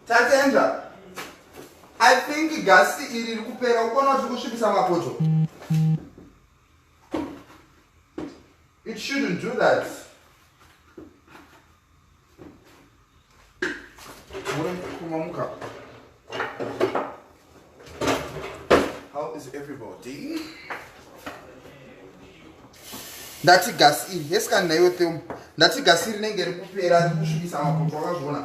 tatenda i think gasi iri rikupera ukuona kuti kusvipisa mapoto It shouldn't do that. How is everybody? ndati gasi iri hesikani naiwe themu ndati gasi iri nenge rikupera rikusvibisa mapoto akazviona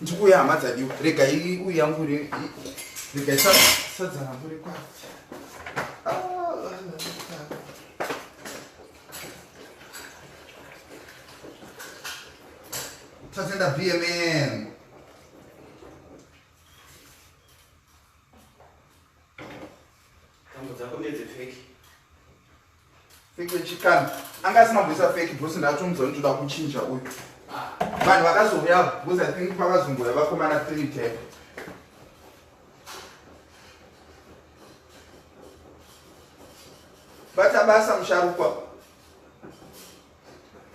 ndikuya hama dzadiwa rega uyu yangu rega isadzana muri kwati tatenda bmn Fake wechikana. Anga asina kuisa fake boss ndatomudza kuti ndoda kuchinja uyu. Vanhu vakazouya because I think vakazongoya vakomana three type. Bata basa musharukwa.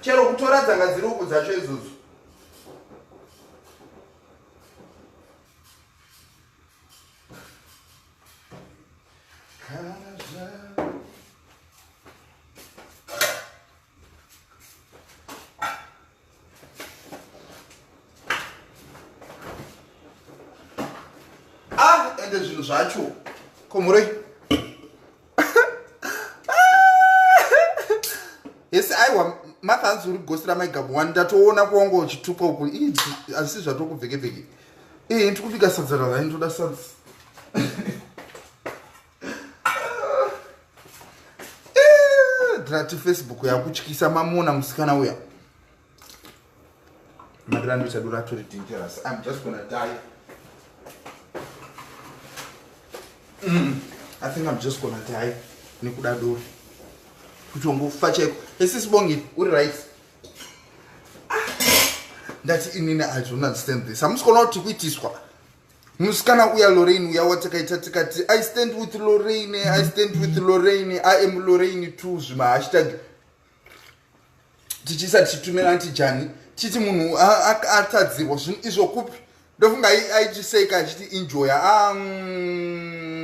Chero kutora dzanga dziri uku dzacho idzodzo. Ah, ende zvinhu zvacho komurei hesi aiwa matha hanzi uri gosi ramaigamu wani ndatoona kwanga uchituka uku ii asi zvatokubvekebveke ii ndikubika sadza ravayi ndoda sadza drati facebook yakutyisa mamona musikana uya Madira ndicha dura turi dangerous. I'm just gonna die. Mm. I think I'm just gonna die. Nikuda dura. Kutongofa cheko. Esi sibongi uri right. Ah. Ndati inini I don't understand this. I'm just gonna to kuitiswa. musikana uya lorraine uya watakaita tikati i stand with lorraine i stand with lorraine i am lorraine two zvimahashtag tichisa tichitumira anti jani tichiti munhu atadzirwa zvinhu izvo kupi ndofunga aichiseka achiti injoya ah, mm,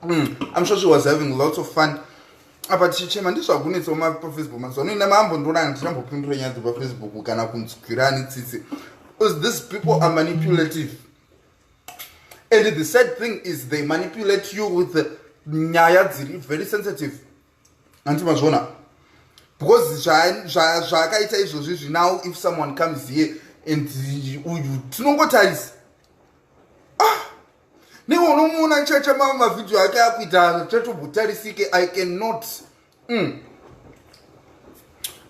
mm, i'm sure she was having lots of fun apa tichichema ndizvakunetsa uma pafacebook mazuva anoina mambo ndonanga tichambopindura nyaya dzepafacebook kana kunzwirani tsitsi bcause these people are manipulative and the sad thing is they manipulate you with the nyaya dziri very sensitive anti mazviona because zvaakaita izvozvi zvi now if someone comes here and uyu tinongotarisa ah newe unomuona chacha mama mavhidhiyo ake akuita chatobutarisike i cannot mm.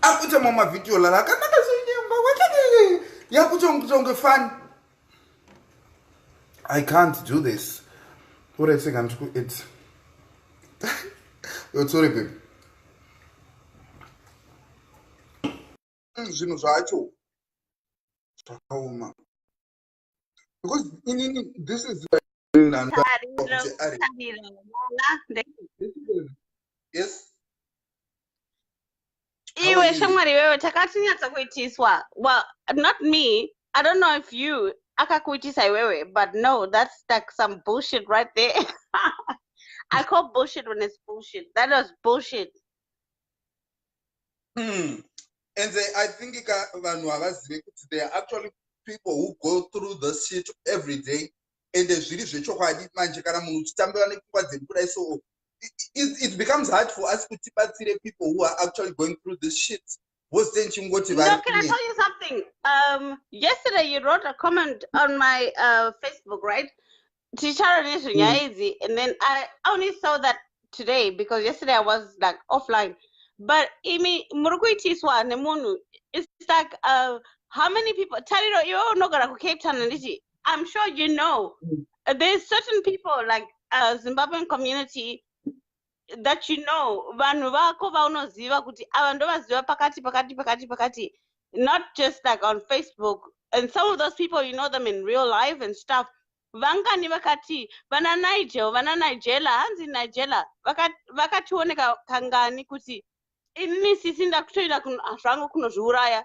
akuita mamavhidhiyo lala akanaka zonyemba wakeee yakutonge fani i can't do this uretseka ndikuedza yotsore baby zvinhu zvacho zvakaoma because inini this is like iwe shamwari iwewe takatinyatsa kuitiswa well not me i don't know if you akakuitisa iwewe but no that's like some bullshit right there i call bullshit when it's bullshit that was bullshit hmm. and they, i think vanhu havazive kuti they are actually people who go through this shit every day ende zviri zvechokwadi manje kana munhu uchitambira nepfungwa dzedu kudai soo it becomes hard for us kuti tibatsire people who are actually going through this shit vose ndichingoti no, can i tell you something um, yesterday you wrote a comment on my uh, facebook right ticharo nezvenyaya mm. idzi and then i only saw that today because yesterday i was like offline but imi muri kuitiswa nemunhu it's like uh, how many people tariro iwe unogara kucape town handiti I'm sure you know mm. there's certain people like uh, Zimbabwean community that you know vanhu vako vaunoziva kuti ava ndovaziva pakati pakati pakati pakati not just like on facebook and some of those people you know them in real life and stuff vangani vakati vana nigel vana nigela hanzi nigela vakationeka kangani kuti ini sisi ndakutoita zvangu kunozviuraya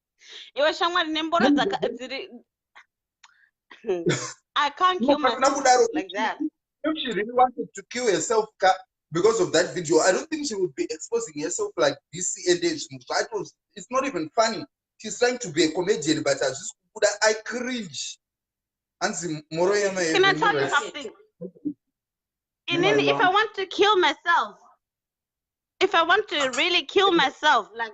iwe shamwari nemboro dzaka dziri i can't kill myself like that if she really wanted to kill herself because of that video i don't think she would be exposing herself like this and zvinhu zvacho it's not even funny she's trying to be a comedian but hazvisi kubuda i cringe hanzi moro yema can i tell you something inini if i want to kill myself if i want to really kill myself like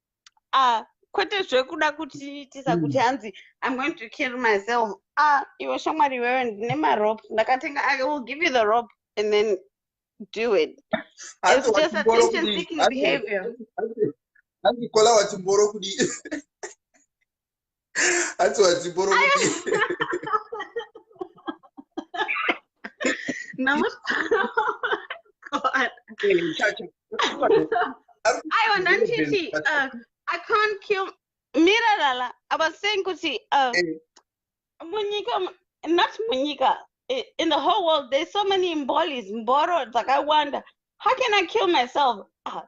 ah kwete zvekuda kuti tisa kuti hmm. hanzi i'm going to kill myself ah iwe shamwari iwewe ndine marope ndakatenga i will give you the rope and then do it it's just attention seeking behavior andikola wachimboro kudii hanzi wadzipo rokuti aiwa ndanditi uh, i can't kill mirarala i was saying kuti uh, eh. munyika not munyika in the whole world there's so many mbolis mboro dzakawanda how can i kill myself ah,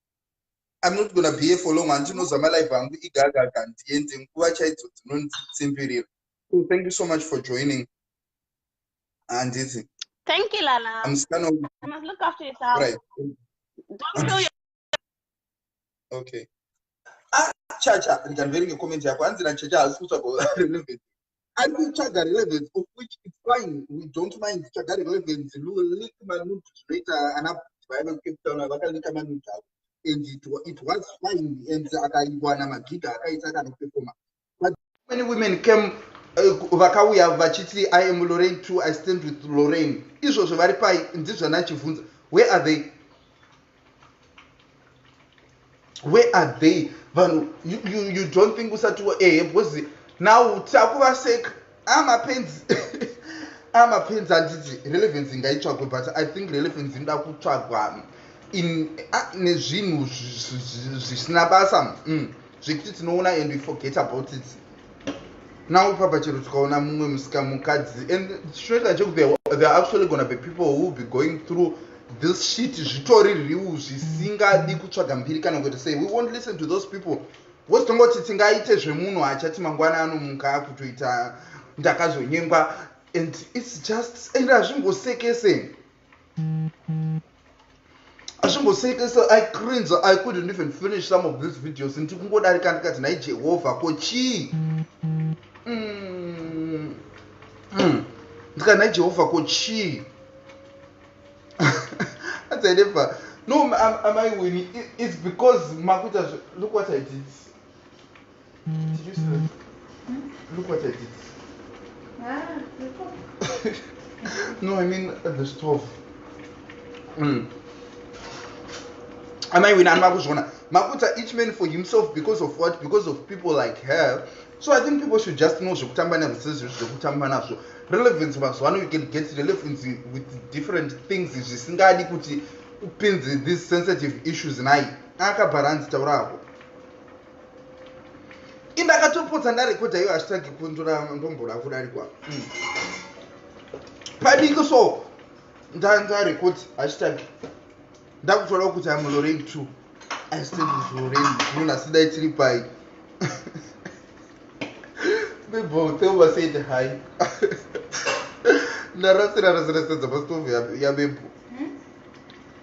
I'm not gonna be here for long handinoza malive angu igagaga ndiende nguva chaidzo dzinonditsimbirira so thank you so much for joining handiti thank you lala I'm scan of... I must look after yourself right. don't kill your okay ah chacha ndikanverenga comment yako hanzi na chacha haasi kutsvaga relevant ari kutsvaga relevance of which its fine we don't mind kutsvaga relevance lulik manut zvinoita ana vaive kucape town vakalika manut avo and it, it was fine and akaiwana magiga akaita akanopefoma but many women came eh, vakauya uh, vachiti i am lorraine too i stand with lorraine izvozvo vari pai ndizvanachivhunza where are they where are they vanhu you, you, you don't think usati ehe eh, because now takuvaseka amapenzi ah, amapenzi ah, anditi relevance ingaitsvagwe but i think relevance inoda kutsvagwa ah, nezvinhu zvisina basa mm. zvekuti tinoona and we forget about it now ipapa chero tikaona mumwe musika mukadzi and chinoita chekuti there are actually gonna be people who will be going through this shit zvitori riu zvisingadi kutsvaga mbiri kana kuita sei we won't listen to those people wose tongoti tingaite zvemunhu achati mangwana anomuka akutoita ndakazonyengwa and its just and hazvingosekese azvimboseka so i cringe i couldn't even finish some of these videos ndiri kungodarika ndikati nhai jehovha ko chii mm. mm. ndikati nhai jehovha ko chii that's i never no am, am i winning it's because makuita look what i did Did you see that? Hmm? Look what I did. Ah, the stove. no, I mean uh, the stove. Mm. Am I with Anmakuzona? Makuta, each man for himself because of what? Because of people like her. So I think people should just know zvekutamba nazvo zvekutamba nazvo. Relevance mazuva ano you can get relevance with different things zvisingadi kuti upinze these sensitive issues nayi. Akabharanzi taura hako. indakatopotsa ndarekodha iyo hashtag kundura ndombora kudarikwa hmm. padiki so ndandarekodha hashtag ndakutoda kuti amuloreng two aistendizvoreng munhu asi dai tiri pai bibho teuba said hi ndarasira rasira sedza pasitovu yabebhu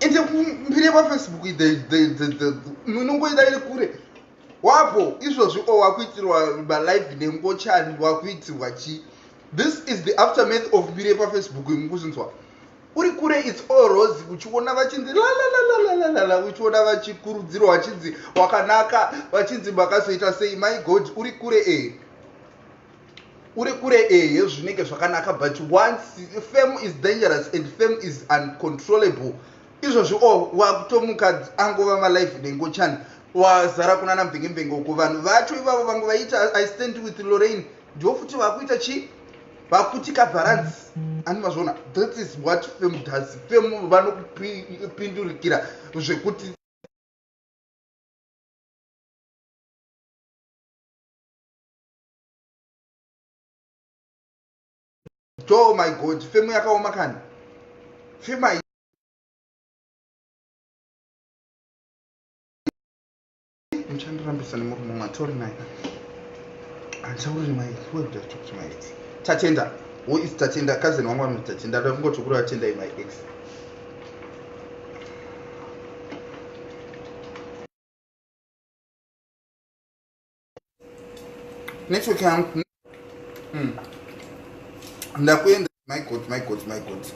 ende mbiri yepafacebook inongoida iri kure wapo izvozvi o wakuitirwa malive nengochani wakuitirwa chii this is the aftermath of mbiri yepafacebook imukuzvinzwa uri kure its all rose uchiona vachinzi lalalalalala uchiona vachikurudzirwa vachinzi wakanaka vachinzi makazoita sei my god uri kure e uri kure ehe zvinenge zvakanaka but once fame is dangerous and fame is uncontrollable izvozvi o oh, wakutomuka angova malife nengochani wazara kuna namvengembenge uko vanhu vacho ivavo vange vaita i stand with lorraine ndivo futi vakuita chii vakuti kabharanzi ani mazvona that is what fame does fame vanokupindurikira zvekuti to my god femu yakaoma kani fema muchandirambisa nemurume umwe atori naye handichauri nemai wekudakuti mai tatenda who is tatenda kazeni wangu vanoti tatenda ndoda kungoti kuri vatendai my ex network yangu hmm. ndakuenda my god my god my god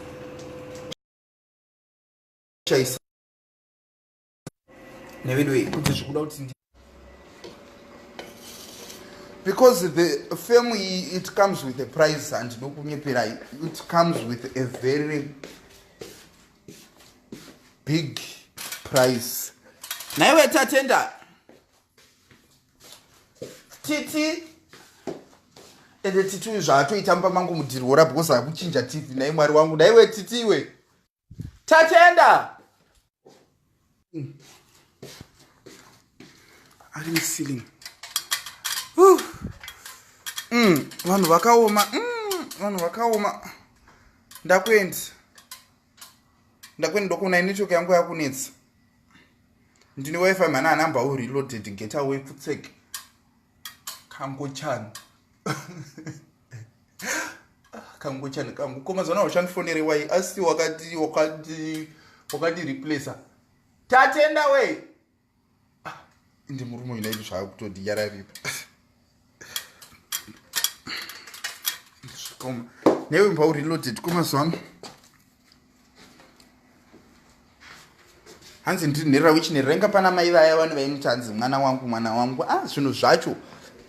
chaisa nevedu wei kuti zvikuda kuti ndi because the fame iyi it comes with a price and ndokunyepera it comes with a very big price naiwe tatenda titi ende titi uyu zvaatoita mumba mangu mudhiri wora because akuchinja tv nai mwari wangu daiwe titi iwe tatenda ari muceiling mm, vanhu vakaoma mm, vanhu vakaoma ndakuendisa ndakwene ndokuona inetwork yangu yakunetsa ndine wifi mhana anamba u reloaded get away futsek kangochani kangochani kangu ko mazana wachandifonere wai asi wakati wakati wakati replacer tatenda wei ah, ndi murume uyu naiti zvaakutodiyararipa zvakoma newe mba ureloaded kwemazuva ano hanzi ndiri nherera wichinherera inga pana mai vaya vani vainoti hanzi mwana wangu mwana wangu a ah, zvinhu zvacho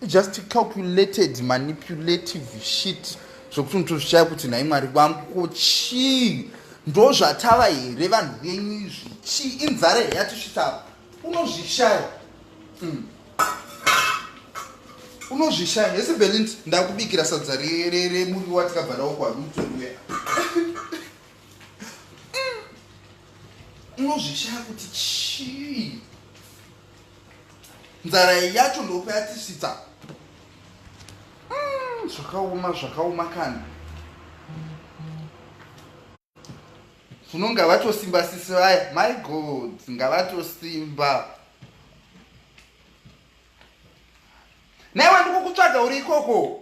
just calculated manipulative shit zvokuti unotozvishaya kuti nhai mwari vangu ko chii ndo zvatava here vanhu venyu izvi chii inzara here yatisvitava unozvishaya mm. unozvishaya hese belint ndakubikira sadza remuri watikabva nawo kwarutoriwe unozvishaya kuti chii nzara yacho ndopa yatisvitsa mm, zvakaoma zvakaoma kani funo ngavatosimba sisi vaya my god ngavatosimba naiwa ndikukutsvaga uri ikoko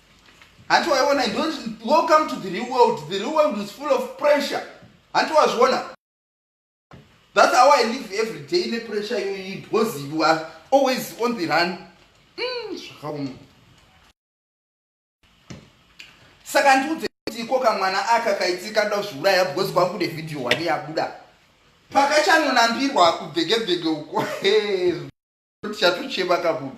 hanti waiona welcome to the real world the real world is full of pressure hanti wazviona that's how i live every day nepressure iyoyi because you are always on the run mm, zvakaoma saka ndiudze kuti iko kamwana aka kaitika nda zviuraya because kwangu ne video wani yabuda pakachanonambirwa kubhekebheke uko tichatochema kabudu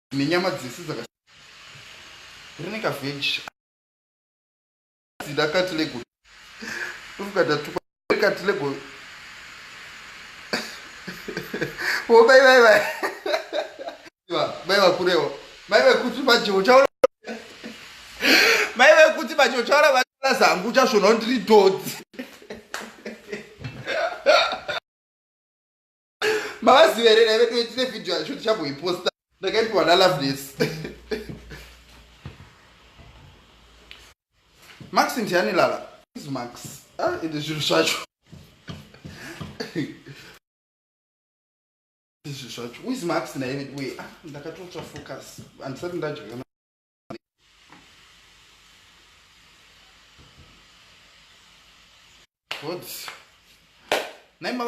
nenyama dzese dzaka rine kaveji dzida kati lego ukatatukwa kati lego wobai vai vai mai vakurewo mai vekuti maje uchaona mai vekuti maje uchaona vaaa zangu uchasvona ndiri dodzi mavaziva here daive toitine vhidhiyo yacho tichamboiposta ndakaipiwa naloveness max ndiani lala is max ah, ende zvinhu zvacho izvi zvacho wis max naive we ah, ndakatotsva focus handisati ndadya Putz. Nem